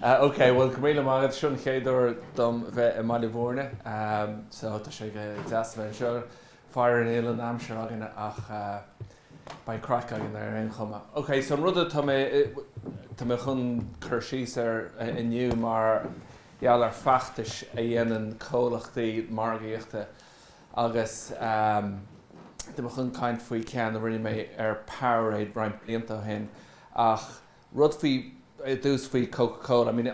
Ah ok, bhuel go raibh míle maith agat. Seo an chéad uair dom bheith i mBaile Mhúirne so tá sé go deas a bheith anseo. Fairíor níl an aimsir againn ach beidh craic againn ar aon chuma. Ok, so an rud atá mé, tá mé chun cur síos air inniu mar gheall ar feachtais a dhéanann comhlachtaí margaíochta agus tá mé chun caint faoi ceann a rinne mé ar Powerade roinnt blianta ó shin ach rud faoi ar dtús faoi Coca Cola, I mean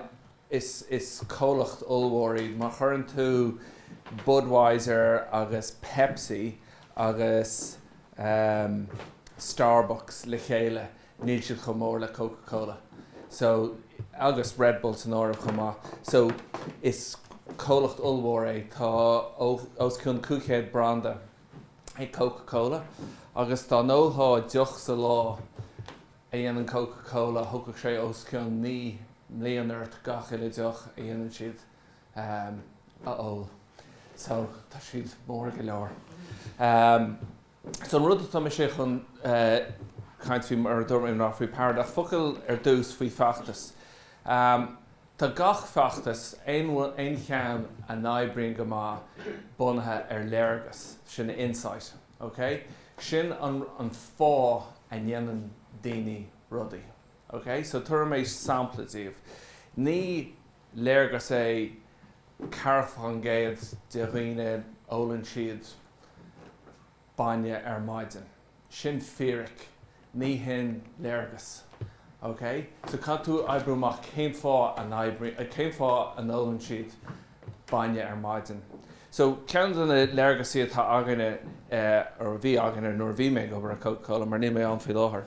is is comhlacht ollmhór iad, má chuireann tú Budweiser agus Pepsi agus ehm Starbucks le chéile níl siad chomh mór le Coca Cola so agus Red Bull san áireamh chomh maith so is comhlacht ollmhór é, tá os cionn 500 branda ag Coca Cola agus dá n-ólthá deoch sa lá, a dhéanann Coca Cola, thógfadh sé os cionn naoi mbliana ort gach uile deoch a dhéanann siad a ól. So, tá siad mór go leor. So, an rud atá mise chun caint faoi, mar a dúirt mé, ná faoi Powerade. Focal ar dtús faoi feachtas. Tá gach feachtas, aon cheann a n-oibríonn go maith, bunaithe ar léargas. Sin insight. OK? Sin an fáth a ndéanann daoine rudaí. OK? So tabharfaidh mé sampla daoibh. Ní léargas é 4% de dhaoine ólann siad bainne ar maidin. Sin fíric. ní hin léargas. OK? So caithfidh tú oibriú amach cén fáth a n-oibrí, cén fáth a n-ólann siad bainne ar maidin. So ceann de na léargasaí atá againne, or a bhí againne nuair a bhí mé ag obair i Coca Cola, mar níl mé ann faoi láthair,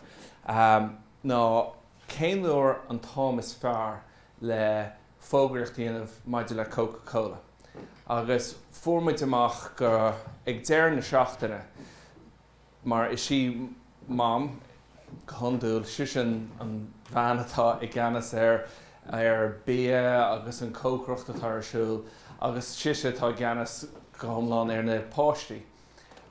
ná cén uair an t-am is fearr le fógraíocht a dhéanamh maidir le Coca Cola. Agus fuair muid amach go, ag deireadh na seachtaine, mar is í Mam, go hiondúil, sise an bhean atá i gceannas ar ar bia agus an cócaireacht atá ar siúl agus sise atá i gceannas go hiomlán ar na páistí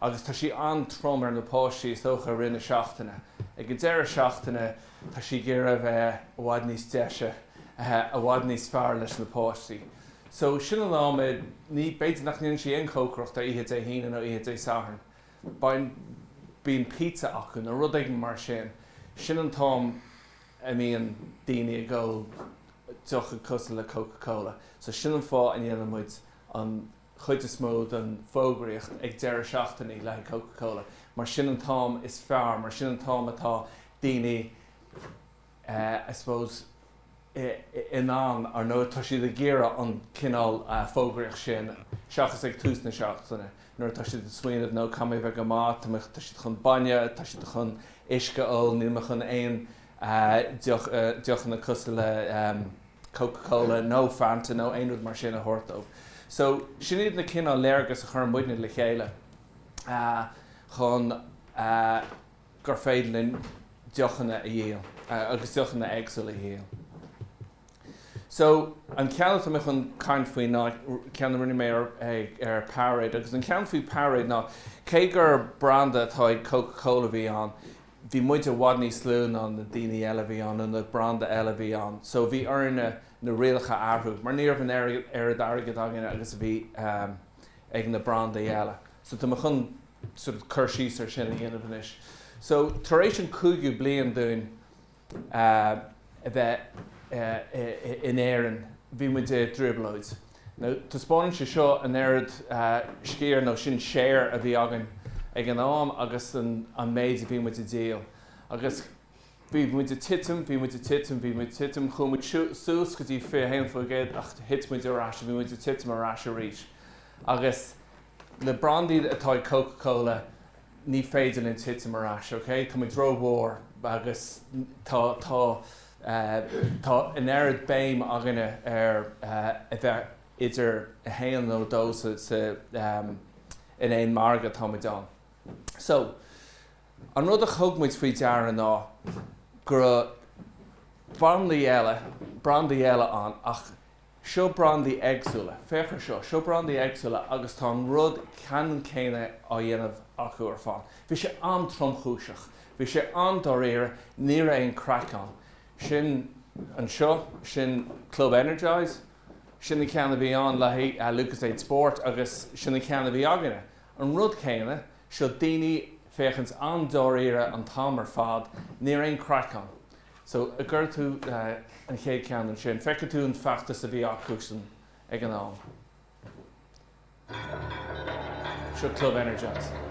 agus tá sí an-trom ar na páistí is dócha i rith na seachtaine. Ag an deireadh seachtaine tá sí ag iarraidh a bheith i bhfad níos deise, i bhfad níos fearr leis na páistí. So sin an am, ní, b'fhéidir nach ndéanann sí aon chócaireacht ar oíche Dé hAoine nó oíche Dé Sathairn. Bain, bíonn pizza acu nó rud éigin mar sin. Sin an t-am a mbíonn daoine ag ól deocha cosúil le Coca Cola. So sin an fáth a ndéanann muid an chuid is mó don fógraíocht ag deireadh seachtaine le haghaidh Coca Cola mar sin an t-am is fearr, mar sin an t-am atá daoine, I suppose, in ann, ar ndóigh, tá siad ag iarraidh an cineál fógraíochta sin, seachas ag tús na seachtaine, nuair atá siad ag smaoineamh, no, tá mé chun a bheith go maith, tá mé, tá siad chun bainne, tá siad chun uisce a ól, níl mé chun aon deoch, deochanna cosúil le Coca Cola nó Fanta nó aon rud mar sin a thabhairt dóibh. So, sin iad na cineál léargas a chuireann muidne le chéile chun, gur féidir linn deochanna a dhíol agus deochanna éagsúla a dhíol. So, an ceann atá mé chun caint faoi ná ceann a rinne mé ar ar Powerade agus an ceann faoi Powerade ná cé gur branda atá ag Coca Cola a bhí ann bhí muid i bhfad níos lú ná na daoine eile a bhí ann nó na branda eile a bhí ann so bhí orainne na rialacha a athrú mar ní raibh an oiread airgead againn agus a bhí ag na brandaí eile so tá mé chun sort of cur síos ar sin a dhéanamh anois. So tar éis an cúigiú bliain dúinn a bheith in Éirinn, bhí muid i dtrioblóid. Now taispeánann sé seo an oiread sciar nó sin share a bhí againn ag an am agus an méid a bhí muid ag díol. Agus bhí muid ag titim, bhí muid ag titim, bhí muid ag titim, chuaigh muid suas go dtí 21% ach thit muid ar ais, bhí muid ag titim ar ais arís. Agus. Le brandaí atá ag Coca Cola, ní féidir linn titim ar ais, ok? Tá muid rómhór agus tá, tá, tá an oiread béim againne ar a bheith idir a haon nó a dó sa, sa, in aon margadh atá muid ann. So, an rud a thug muid faoi deara ná go raibh brandaí eile, brandaí eile ann ach Seo brandaí éagsúla. Féach ar seo. Seo brandaí éagsúla agus tá an rud ceannann céanna á dhéanamh acu ar fad. Bhí sé an-tromchúiseach. Bhí sé an-dáiríre. Ní raibh aon craic ann. Sin anseo, sin Club Energise, sin an ceann a bhí ann le haghaidh Lucozade Sport agus sin an ceann a bhí againne. An rud céanna. Seo daoine ag féachaint an-dáiríre an t-am ar fad. Ní raibh aon craic ann. So, an gcuirfidh tú an chéad ceann ansin. Feicfidh tú an feachtas a bhí acusan ag an am. Seo Club Energise.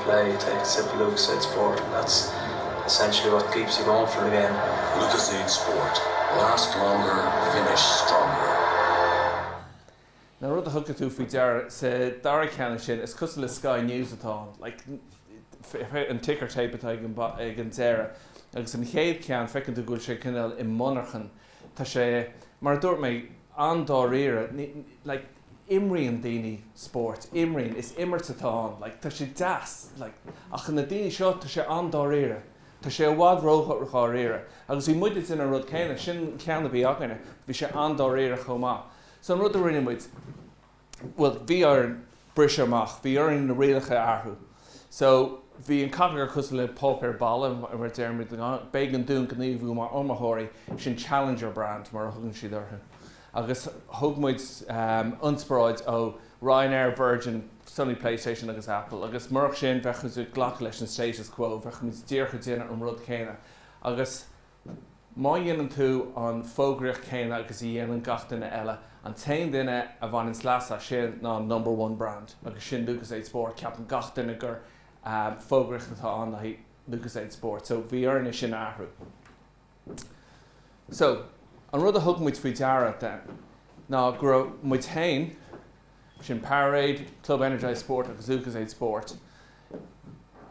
play, take a sip, Lucozade Sport and that's essentially what keeps you going for the game. Lucozade Sport, last longer, finish stronger. An rud a thugann tú faoi deara sa dara ceann ansin, is cosúil le Sky News atá ann, like, an ticker tape atá ag an, ag an deireadh. Agus an chéad ceann, feiceann tú go bhfuil sé cineál i monarchain. Tá sé, mar a dúirt mé, an-dáiríre. Ní, ní, like. imríonn daoine spóirt, imríonn, is imirt atá ann, like tá sé deas, like ach na daoine seo, tá sé an-dáiríre, tá sé i bhfad ródháiríre agus bhí muide ag déanamh an rud céanna, sin an ceann a bhí againne, bhí sé an-dáiríre chomh maith. So an rud a rinne muid, bhuel bhí orainn briseadh amach, bhí orainn na rialacha a athrú. So bhí an category cosúil le páipéar balla mar a deirimid, b'éigean dúinn gníomhú mar iomaitheoirí, sin Challenger brand mar a thugann siad orthu. agus thug muid ionspioráid ó Ryanair, Virgin, Sony Playstation agus Apple agus murach sin bheadh muid ag glacadh leis an status quo, bheadh muid díreach ag déanamh an rud céanna agus má dhéanann tú an fógraíocht céanna agus a dhéanann gach duine eile, an t-aon duine a bhaineanns leas as sin ná an number one brand agus sin Lucozade Sport, ceapann gach duine gur fógraíocht atá ann do Lucozade Sport so bhí orainne sin a athrú. So, an rud a thug muid faoi deara, then, ná go raibh muid féin, sin Powerade, Club Energise Sport agus Lucozade Sport,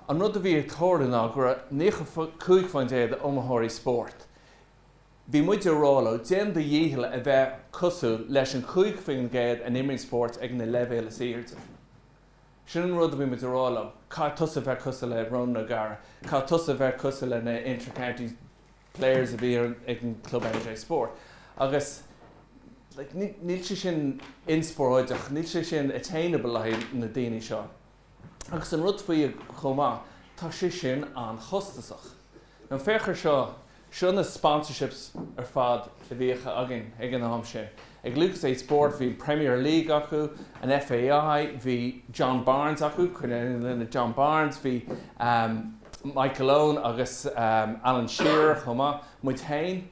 an rud a bhí ag tarlú ná go raibh 95 fán gcéad d'iomaitheoirí spóirt, bhí muid ag rá leo, déan do dhícheall a bheith cosúil leis an 5 faoin gcéad a imríonn spórt ag na leibhéil is airde. Sin an rud a bhí muid a rá leo, caithfidh tusa bheith cosúil le Ronan O'Gara, caithfidh tusa bheith cosúil le na inter-county players a bhí ag an Club Energise Sport. Agus like níl sé sin inspioráideach, níl sé sin attainable le haghaidh na daoine seo. Agus an rud faoi chomh maith, tá sé sin an-chostasach. Anois féach air seo Seo na sponsorships ar fad a bhíodh againn ag an am sin. Ag Lucozade Sport bhí an Premier League acu, an FAI, bhí John Barnes acu, cuimhin linn John Barnes, bhí Michael Owen agus Alan Shearer chomh maith, muid féin,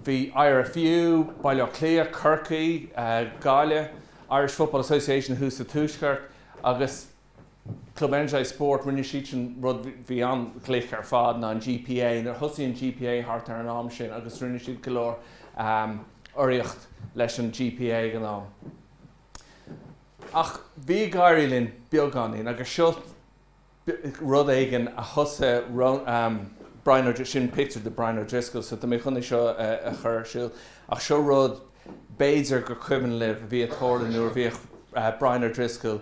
bhí IRFU, Baile Átha Cliath, Corcaigh, Gaillimh, Irish Football Association thuas sa Tuaisceart agus. Club Energise Sport, rinne siadsan rud a bhí an-ghlic ar fad ná an GPA. Nuair a thosaigh an GPA thart ar an am sin agus rinne siad go leor urraíocht leis an GPA ag an am. Ach bhí ag éirí linn beagáinín agus seo rud éigin a thosaigh Brian Ó, sin pictiúr de Brian O'Driscoll so tá mé chun é seo a chur ar siúl ach seo rud b'fhéidir gur cuimhin libh a bhí ag tarlú nuair a bhíodh Brian O'Driscoll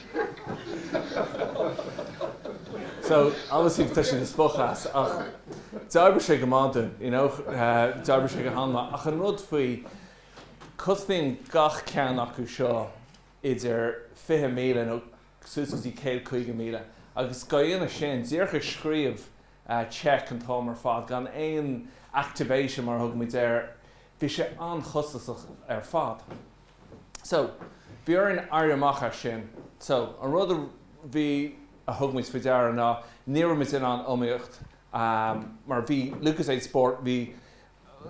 So, obviously píosa spochadh as ach d'oibrigh sé go maith dúinn, you know, d'oibrigh sé go han-mhaith. Ach an rud faoi, cosnaíonn gach ceann acu seo idir fiche míle nó suas go dtí céad caoga míle agus dá dhéanamh sin, díreach ag scríobh cheque an t-am ar fad gan aon activation mar a thugaimid air, Bhí sé an-chostasach ar fad. So, bhí orainn éirí amach as sin. So, an rud a bhí, a thug muid faoi deara ná, ní raibh muid in ann iomaíocht, mar bhí Lucozade Sport, bhí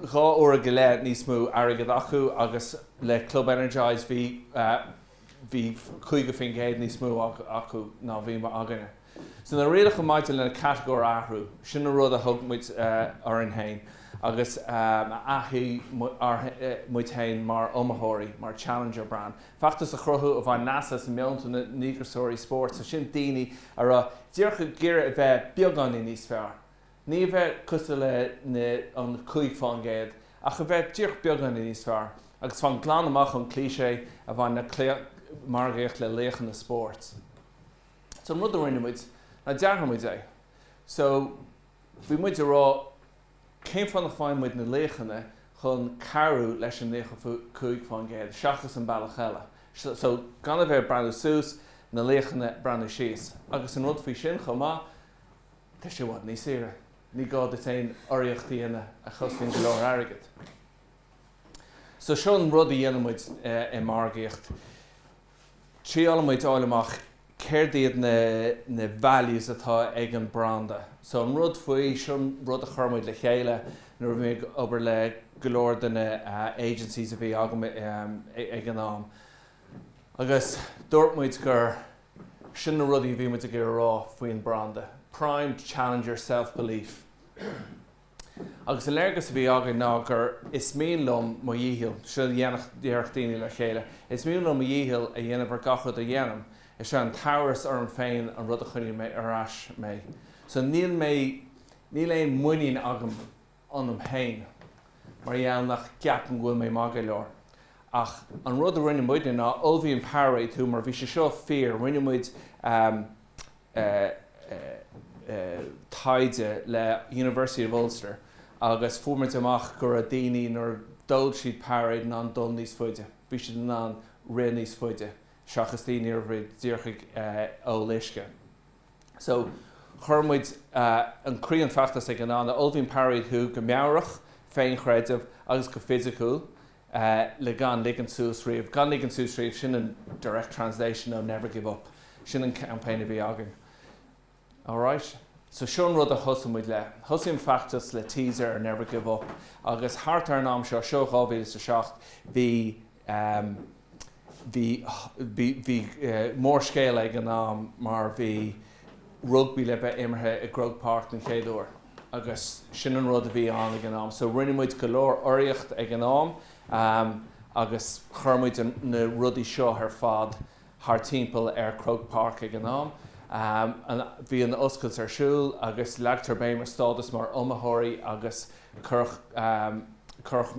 dhá uair go leith níos mó airgid acu agus le Club Energise bhí, bhí 50% níos mó acu ná a bhí againne. So na rialacha maidir leis an gcatagóir a athrú. Sin an rud a thug muid orainn fhéin agus a athshuigh muid fhéin mar iomaitheoirí, mar challenger brand. Feachtas a chruthú a bhain leas as meonta na ndíograiseoirí spóirt, so sin daoine a raibh díreach ag iarraidh a bheith beagáinín níos fearr. Ní a bheith cosúil le na an cúig faoin gcéad, ach a bheith díreach beagáinín níos fearr. Agus fan glan amach ón cliché a bhain le margaíocht le laochanna spóirt. So an rud a rinne muid ná d'athraigh muid é. So bhí muid ag rá cén fáth nach bhfaigheann muid na laochanna chun cabhrú leis an 95% seachas an bealach eile. So gan a bheith ag breathnú suas, na laochanna ag breathnú síos. Agus an rud faoi sin chomh maith, tá sé i bhfad níos saoire. Ní gá duit aon urraíocht a dhéanamh a chosnaíonn go leor airgid. So seo an rud a dhéanann muid i margaíocht. Triaileann muid a fháil amach céard iad na na values atá ag an branda. So an rud faoi seo, an rud a chuir muid le chéile nuair a bhí mé ag obair le go leor de na agencies a bhí agam ag an am agus dúirt muid gur sin na rudaí a bhí muid ag iarraidh a rá faoin branda, primed, challenger, self-belief. Agus an léargas a bhí againn ná gur Is mian liom mo dhícheall, seo a déarfadh daoine le chéile, is mian liom mo dhícheall a dhéanamh ar gach rud a dhéanaim, is é an t-amhras orm féin an rud a choinníonn ar ais mé. So níl mé, níl aon mhuinín agam ionam fhéin mar gheall nach gceapaim go bhfuil mé maith go leor. Ach an rud a rinne muidne ná ullmhaíonn Powerade thú mar bhí sé seo fíor, rinne muid, taighde le University of Ulster agus fuair muid amach go raibh daoine nuair a d'ól siad Powerade in ann dul níos faide, bhí siad in ann rith níos faide seachas daoine a bhí díreach ag ól uisce. So chuir muid i gcroí an fheachtais againn ná ullmhaíonn Powerade thú go meabhrach, féinchreideamh agus go fisiciúil le gan ligean suas riamh, gan ligean suas riamh, sin an direct translation ó never give up, sin an campaign a bhí againn. Alright, so seo an rud a thosaigh muid leis. Thosaigh an feachtas le teaser ar Never Give Up agus thart ar an am seo, seo 2007, bhí eh, Bhí mórscéal ag an am mar bhí rugbaí le bheith imeartha i gCroke Park don chéad uair agus sin an rud a bhí ann ag an am. So rinne muid go leor fógraíocht ag an am agus chuir muid na rudaí seo ar fad thar timpeall ar Croke Park ag an am. Bhí an oscailt ar siúl agus leagtar béim ar stádas mar iomaitheoirí agus Cuireadh cuireadh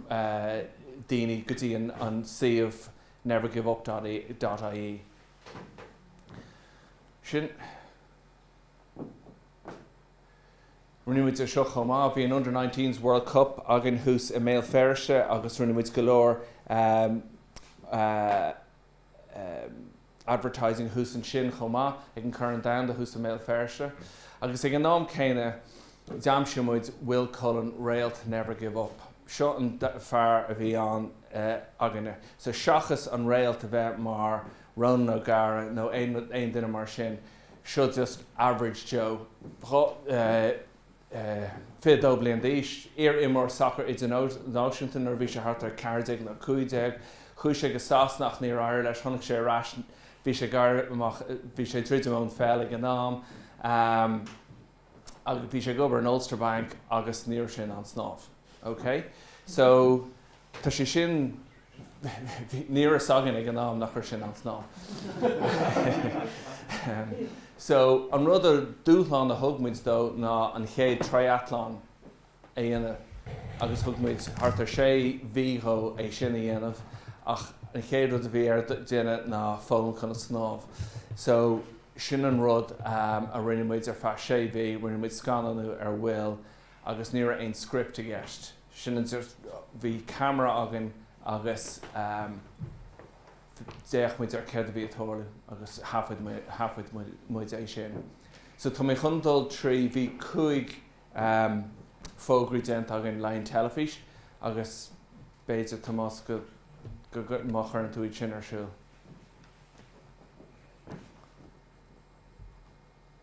daoine go dtí an suíomh nevergiveup.ie. Sin Rinne muid é seo chomh maith. Bhí an Under 19's World Cup againn thuas i mBéal Feirste agus rinne muid go leor advertising thuas ansin chomh maith, ag an Corn Domhanda thuas i mBéal Feirste. Agus ag an am céanna, d'aimsigh muid Will Cullen, réalt Never Give Up. Seo an fear a bhí ann againne. So seachas an réalt a bheith mar Ronan O'Gara nó aon duine mar sin, seo just average Joe. 22 bliain d'aois, iar-imreoir sacair idirnáisiúnta, nuair a bhí sé thart ar 14 nó 15. Chuaigh sé go Sasana ach níor éirigh leis, tháinig sé ar ais, bhí sé, bhí sé ag druidim ón pheil ag an am agus bhí sé ag obair in Ulster Bank agus ní raibh sé in ann snámh. Okay? So, tá sé sin. Ní raibh a fhios againn ag an am nach raibh sé in ann snámh. So an rud a dúshlán a thug muid dó ná an chéad triathlon a dhéanamh agus thug muid thart ar sé mhí dhó é sin a dhéanamh ach an chéad rud a bhí air a dhéanamh ná foghlaim conas snámh. So sin an rud a rinne muid ar feadh sé mhí, rinne muid scannánú ar Will agus ní raibh aon script i gceist. sin an, bhí ceamara againn agus d'fhéach muid ar céard a bhí ag tarlú agus thaifead muid é sin. So tá mé chun dul trí, bhí cúig fógraí déanta againn le haghaidh an teilifís agus b'fhéidir Tomás má chuireann tú iad sin ar siúl.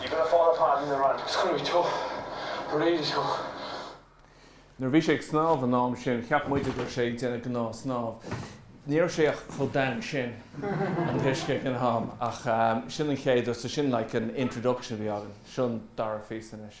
You're going to fall apart in the run. It's going to be tough. Really tough. Nuair a bhí sé ag snámh an am sin cheap muide go raibh sé ag déanamh gnáthsnámh. Ní raibh sé ach chomh domhain sin an t-uisce ag an am. Ach sin an chéad, so sin like an introduction a bhí againn. Seo an dara phíosa anois.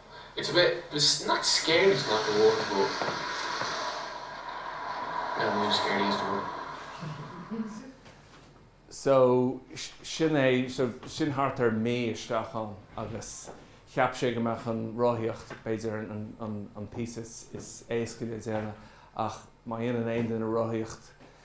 It's a bit, it's not scary is not the word but no, I'm scared is the word. So, sin thart ar mí isteach ann agus cheap sé go mbeadh an rothaíocht b'fhéidir an píosa is éasca le déanamh ach má dhéanann aon duine rothaíocht,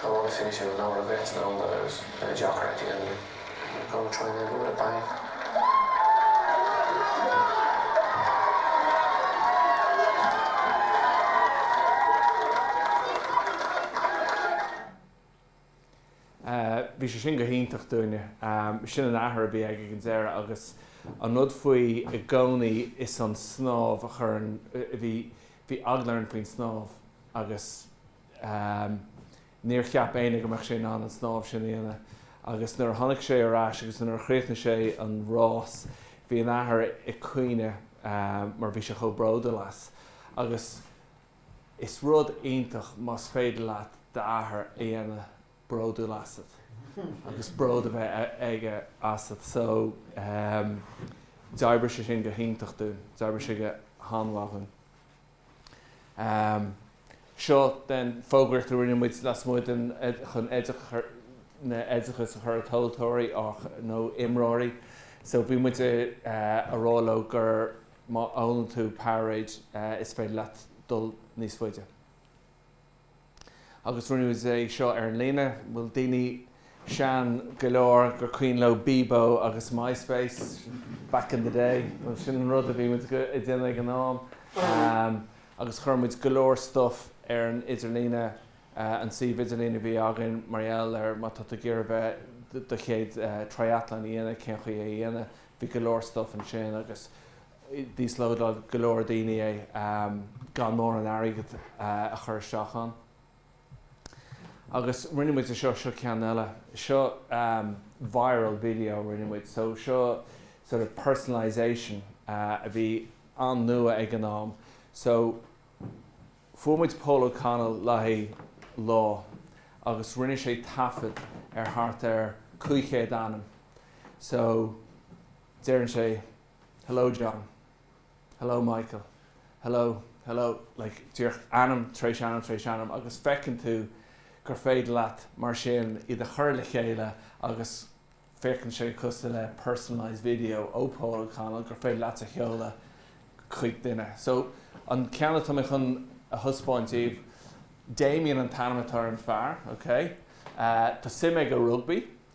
Tá rud a fianaise go leor againn san am go raibh deacair aici an grúma troime a bhualadh bang. Bhí sé sin go hiontach dúinne. Sin an t-athair a bhí aige ag an deireadh agus an rud faoi i gcónaí is an snámh a chuir, bhí eagla orainn faoin snámh agus, Ámh, níor cheap éinne go mbeadh sé in ann an snámh sin a dhéanamh, agus nuair a tháinig sé ar ais agus nuair a chríochnaigh sé an rás, bhí an t-athair ag caoineadh mar bhí sé chomh bródúil as. agus is rud iontach más féidir leat d'athair a dhéanamh bródúil asat, agus bród a bheith aige asat. So, d'oibrigh sé sin go hiontach dúinn, d'oibrigh sé go han-mhaith dhúinn. am seo den fógraíocht a rinne muid lasmuigh de chun oideachas a chur ar thomhaltóirí nó imreoirí so bhí muid ag rá leo gur má ólann tú Powerade is féidir leat dul níos faide. Agus rinneadh é seo ar líne. Bhfuil daoine sean go leor gur cuimhin leo Bebo agus MySpace back in the day? Bhuel, sin an rud a bhí muid ag déanamh ag an am. Agus chuir muid go leor stuff ar an idirlíne, an suíomh idirlín a bhí againn mar gheall ar má tá tú ag iarraidh bheith do chéad triathlon a dhéanamh, cén chaoi é a dhéanamh. Bhí go leor stuff ansin agus. D'íoslódáil go leor daoine é gan mórán airgid a chur isteach ann. Agus rinne muid é seo, seo ceann eile. Seo viral video a rinne muid. So seo sort of personalisation a bhí an-nua ag an am. So fuair muid Paul O'Connell le haghaidh lá agus rinne sé taifead ar thart ar 500 ainm. So deireann sé. hello John, hello Michael, hello, hello like díreach ainm tar éis ainm tar éis ainm agus feiceann tú gur féidir leat mar sin iad a chur le chéile agus féachann sé cosúil le personalised video ó Paul O'Connell gur féidir leat a sheoladh chuig duine. So an ceann atá mé chun a thaispeáint daoibh, Damien an t-ainm atá ar an fear, okay? Tá suim aige i rugbaí.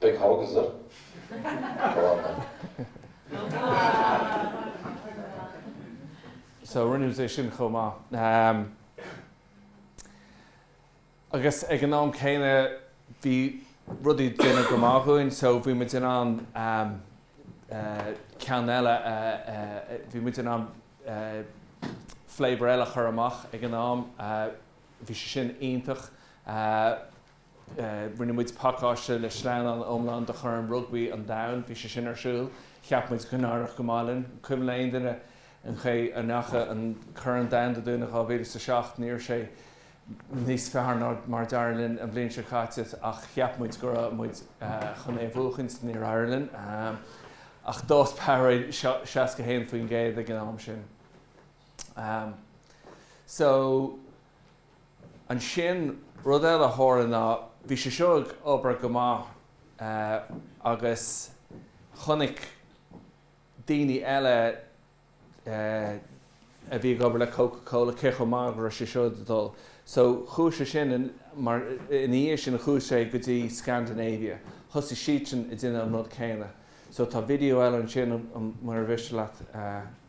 Big hug, is it? Go on then. So rinne sé sin chomh maith. Agus ag an am céanna bhí rudaí ag dul go maith dhúinn, so bhí muid in ann ceann eile a, bhí muid in ann flavour eile a chur amach ag an am. Bhí sé sin iontach. Rinne muid pacáiste le slán iomlán do Chorn Rugbaí an Domhain. Bhí sé sin ar siúl. Cheap muid go n-éireodh go maith linn. Cuimhin le aon duine an chaoi a ndeacha an Corn an Domhain dúinn i 2007? Ní raibh sé níos fearr ná mar d'éirigh linn an bhliain seo caite ach cheap muid go raibh muid chun é a bhuachaint. Níor éirigh linn ach d'fhás Powerade 61% ag an am sin. So. Ansin, rud eile a tharla ná bhí sé seo ag obair go maith agus chonaic daoine eile a bhí ag obair le Coca Cola cé chomh maith agus a raibh sé seo ag dul. So, chuaigh sé sin mar, ina dhiaidh sin, chuaigh sé go dtí Scandinavia. Thosaigh siadsan ag déanamh an rud céanna. So, tá video eile ansin, mura mhiste leat.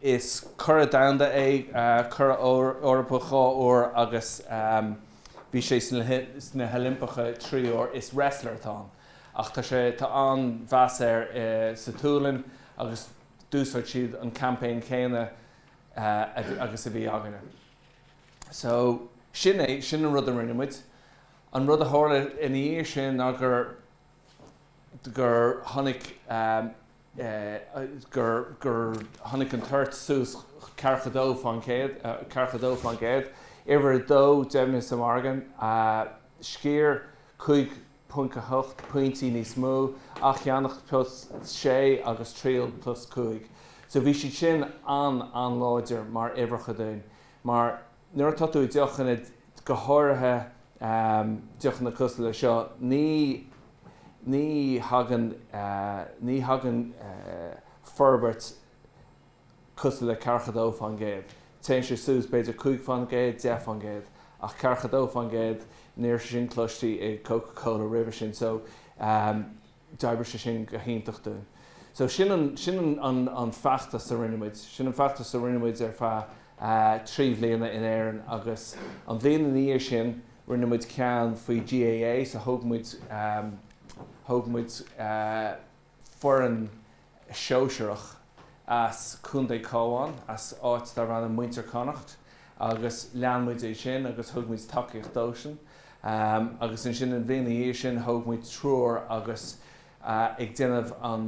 Is curadh domhanda é, curadh Eorpach dhá uair agus bhí sé sna hOilimpeacha trí huair. Is wrestler atá ann ach tá sé, tá an-mheas air sa tSualainn agus d'úsáid siad an campaign céanna agus a bhí againne. So, sin é, sin an rud a rinne muid. An rud a tharla ina dhiaidh sin ná gur, gur tháinig. gur gur tháinig an toirt suas ceathracha dó fán gcéad, ceathracha dó fán gcéad. Uimhir a dó, deimhniú sa mhargadh, sciar 5.8 pointí níos mó, athcheannacht plus 6 agus triail plus 5. So bhí siad sin an-an-láidir mar uimhreacha dúinn, mar Nuair atá tú i deochanna, go háirithe deochanna cosúil le seo, ní ní thagann ní thagann forbairt cosúil le ceathracha dó fán gcéad. Téann sé suas b'fhéidir cúig fán gcéad, deich fán gcéad. Ach ceathracha dó fán gcéad, ní raibh sin cloiste i gCoca Cola roimhe sin. So D'oibrigh sé sin go hiontach dúinn. So sin an, sin an, an feachtas a rinne muid. Sin an feachtas a rinne muid ar feadh trí bhliana in Éirinn agus an bhliain ina dhiaidh sin rinne muid ceann faoi GAA, so thóg muid, thóg muid foireann, Shóisearach, as Contae an Chabháin, as áit darb ainm Muintir Connacht, agus lean muid é sin agus thug muid tacaíocht dóibhsean. Agus ansin an bhliain ina dhiaidh sin thóg muid triúr agus ag déanamh an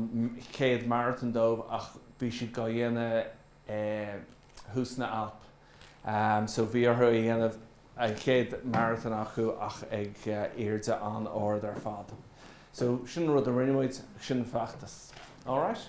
chéad marathon dóibh ach bhí siad dhá dhéanamh thuas sna hAlp so bhí orthu a dhéanamh an chéad marathon acu ach ag airde an-ard ar fad so sin rud a rinne muid sin feachtas alright.